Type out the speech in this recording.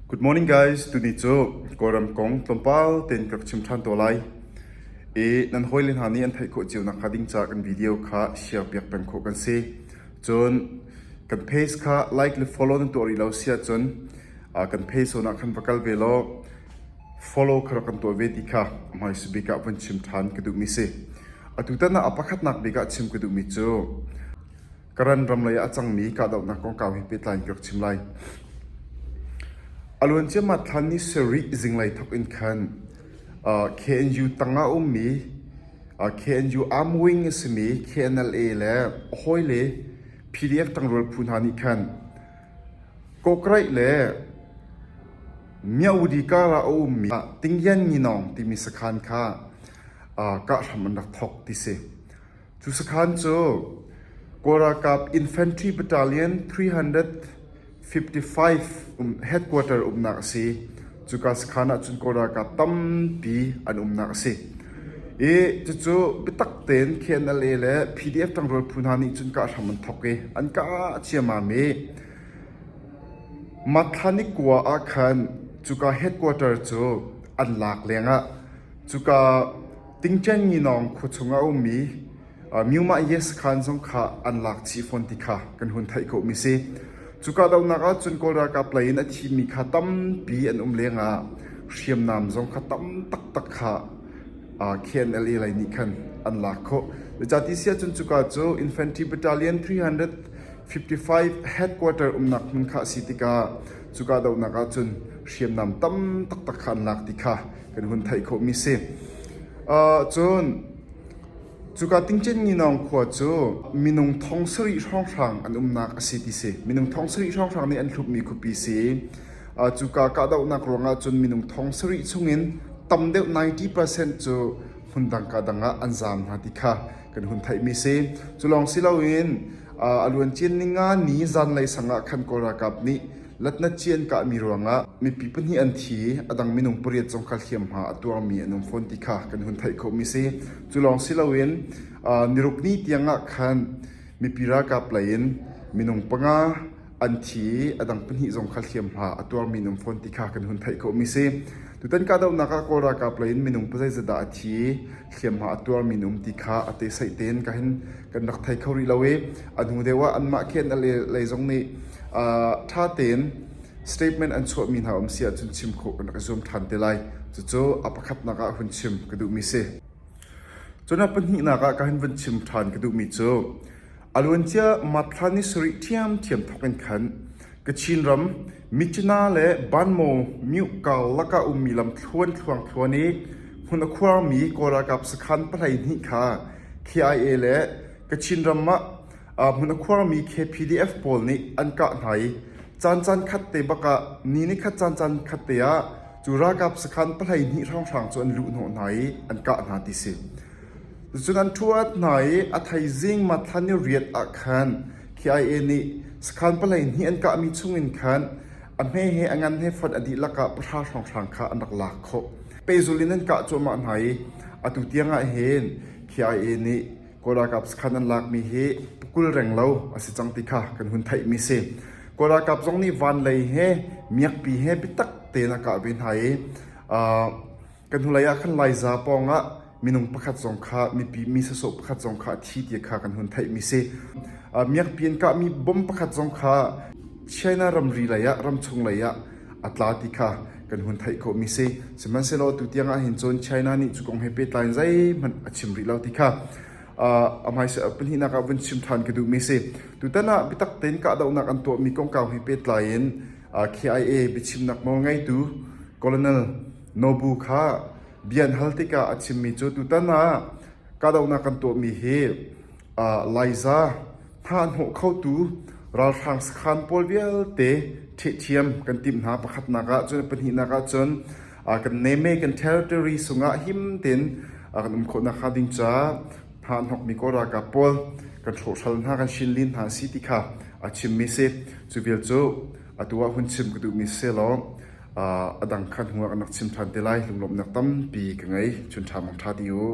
Good morning guys. Tuni cu Kawlram kong tlawmpal tein ka rak chim ṭhan tawn lai. I nan hawile hna nih an theih khawh cio nakhnga ding ca kan video kha share piak peng khawh kan si. Cun kan page kha like le follow nan tuah rih lo si ahcun ah, kan page hawnah khan va kal ve law follow kha rak kan tuah ve ti kha a hmaisa bik ah von chim ṭhan ka duhmi si. Atu tan ah a pakhatnak bik ah chim ka duhmi cu Karan ram lei ah a cangmi kahdohnak kongkau he pehtlai in ka rak chim lai. A luan ciammah thlan ni sarih zinglei thok in khan uh, KNU tangah ummi uh, KNU Arm Wing a simi KNLA le a hawile PDF tangrual phu hna nih khan Kokraih le Miaudi kara a ummi Tingyan Nginong timi sakhan kha uh, kah hram an rak thok ti si. Cu sakhan cu Kawl ralkap Infantry Battalion 355 headquarter uknak a si. Cuka sakhan ahcun Kawl ralkap tampi an umnak a si. I cucu biatak tein KNLA le PDF ṭangrual phu hna nih cun kah hram an thawk i an kah ciammam i Matlani kua ah khan cuka headquarter cu an lak lengah Cuka tingṭengnginawng khua chung a ummi Myu-mah-yes khaan zong kha an lak chih fawn ti kha kan hun theih khawhmi a si. Cuka dohnak ahcun Kawl ralkap lei in a thimi kha tampi an um lengah hriamnam zong kha tam taktak kha KNLA lei nih khan an lak khawh. Zeicati si ahcun cuka cu Infantry Battalion 355 headquarter umnak hmun kha a si tikah cuka dohnak ahcun hriamnam tam taktak kha an lak ti kha kan hun theih khawhmi si. Uh, cun cuka tingcen nginawng khua cu minung thong sarih hrawnghrang an umnak a si ti si minung thong sarih hrawnghrang nih an thlupmi khupi si uh, cuka kahdohnak ruangah cun minung thong sarih chungin tam deuh 90% cu hmun dang ka dang ah an zam hna ti kha kan hun theihmi si cu lawng si loin uh, a luan cin ninga ni zanlei sangah khan kawlralkap nih Latnat ci an kahmi ruangah mipi pahnih an thi i a dang minung pariat zong kha hliamhma a tuarmi an um fawn ti kha kan hun theih khawhmi si. Cu lawng si loin nirukni tiangah khan mipi ralkap lei in minung panga an thi i a dang pahnih zong kha hliamhma a tuarmi an um fawn ti kha kan hun theih khawhmi si. Tutan kahdohnak ah Kawl ralkap lei in minung pazai zadah a thi i hliamhma a tuarmi na um ti kha a tesaih tein ka hin kan rak thei kho rih lo i a hnu deuh ah anmah khi an lei zong nih ṭha tein statement an chuahmi hna um si ahcun chim khawh kan rak i zuam ṭhan te lai cucu a pakhatnak ah hun chim ka duhmi si cun a pahnihnak ah ka hin vun chim ṭhan ka duhmi cu A luancia Map thla ni sarih ṭhiamṭhiam thawk in khan Kachin ram Mitcina le Banmo Myuhkal lakah a ummi lamthluan thluangthluan i hmun a khuarmi Kawl ralkap sakhan pahleihnih kha KIA le Kachin ram ah hmun a khuarmi KPDF pawl nih an kah hna i caan caan khat te bak ah ni ni khat caan caan khat te ah cu ralkap sakhan pahleihnih hrawnghrang cu an luh hnawh hna i an kah hna ti si. Cucun an ṭhuat hna i a thaizing Matthlan i riat ah khan khi-ai-e nih sakhan pahleihnih an kahmi chungin khan a hme he a ngan he fon a dihlak ah pahra hrawnghrang kha an rak lak khawh. Pehzul in an kah cuahmah hna i atu tiangah hin khi-ai-e nih Kawl ralkap sakhan an lakmi hi pakul reng lo a si cang ti kha kan hun theihmi a si. Kawl ralkap zong nih van lei he miakpi he biatak tein a kah ve hna i aa Kan hnulei ah khan Laiza pawngah minung pakhat zong kha mipi mi sasawh pakhat zong kha a thi ti kha kan hun theih mi si. Miakpi in kahmi bom pakhat zong kha China ramri lei ah ramchung lei ah a tla ti kha kan hun theih khawh mi si. Sihmanhsehlaw tu tiang ah hin cun China nih cu kong he pehtlai in zeihmanh a chim rih lo ti kha a hmaisa pahnihnak ah vun chim ṭhan ka duh mi si. Tutan ah bitak tein kahdohnak an tuah mi kongkau he pehtlai in KIA biachimnak nawl ngeitu Colonel Nobu kha bia an hal tikah a chimmi cu tutan ah kahdohnak kan tuahmi hi Laiza hnahnawh khotu ralhrang sakhaan pawl vialte ṭhihthiam kan timh hna. Pakhatnak ah cun pahnihnak ah cun kan name kan territory sungah him tein kan um khawh nakhnga ding caah hnahnawkmi kawl ralkap pawl kan hrawhhral hna, kan hrinlin hna a si ti kha a chimmi a si. Cu vial cu atu ah hun chim ka duhmi si selaw A dang kha hnuah kan rak chim ṭhan te lai. Lunglawmhnak tampi ka ngei. Chun ṭha hmang ṭha ding u.